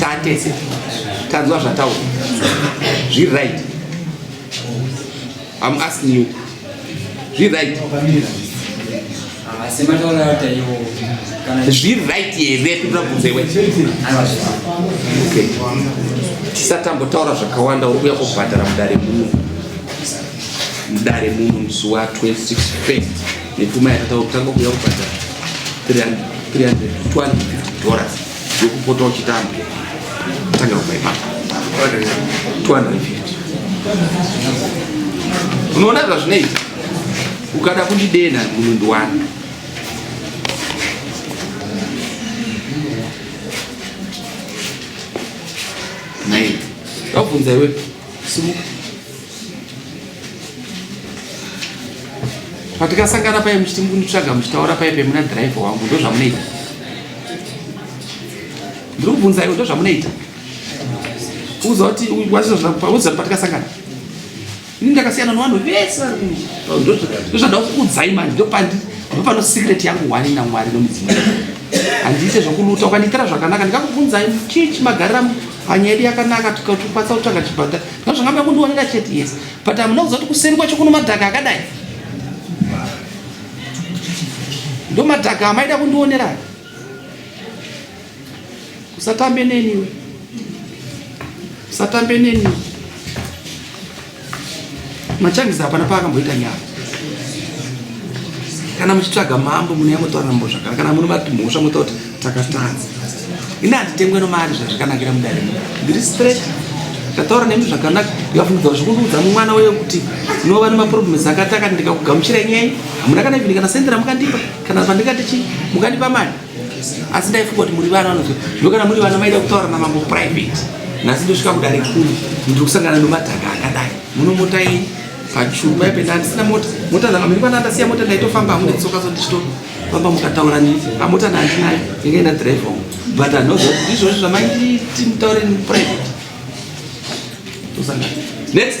tatese tanzwa zvataura zviri right am asking you zviri right zviri right here kuda kubvunza iwe tisatambotaura zvakawanda uri kuya kubhadhara mudare muno mudare muno musi wa 26 fest Nepfuma yatataura kutanga kuuya kubhadhara 350 dollars yokupota uchitamba tanga kubva ipapo 250 unoona zvazvinoita ukada kundidenha munundu wani nai ndakubvunza iwe simuka patikasangana paye muchiti mukunitsvaga muchitaura paye pe muna driver wangu ndo zvamunoita ndiri kubvunza iwe ndo zvamunoita uzoti wazvizvauza patikasangana ini ndakasiyana nevanhu vese ndozvada kukudzai manje ndopandi ndo pano secret yangu wani namwari nomudzimu handiite zvokuluta ukandiitira zvakanaka ndikakubvunzai chii chimagarira panyaya yedu yakanaka tukatupatsa kutsvaga chibhata Zvakamba kundionera chete yes but amuna kuziva kuti kuseri kwacho kuno madhaka akadai ndo madhaka amaida kundionera usatambe neniwe usatambe neniwe machangizi hapana paakamboita nyaya kana muchitsvaga mambo mune yamotaura mambo zvakana kana mune mati mhosva motaura kuti takatadza ini handitengwe nomari zvazvikanakira mudare ndiri straight ndataura nemi zvakanaka ndikafunidza zvikundiudza mwana uye kuti unova nemaproblems akati akati ndikakugamuchira nyaya hamuna kana ivini kana sendi ramukandipa kana pandikati chii mukandipa mari asi ndaifunga kuti muri vana vanoziva zvino kana muri vana maida kutaura namambo private nhasi ndosvika kudare kuru ndiri kusangana nomadhaka akadai munomota ini pachuma ipenda handisina mota mota dzanga miri kwana ndasiya mota ndaitofamba hamune tsoka so ndichitoa Baba mukataura niti amota ndandinayo inge na drive home but anozo ndizvo zvamaiti mutaure ni private. Tusanga. Next.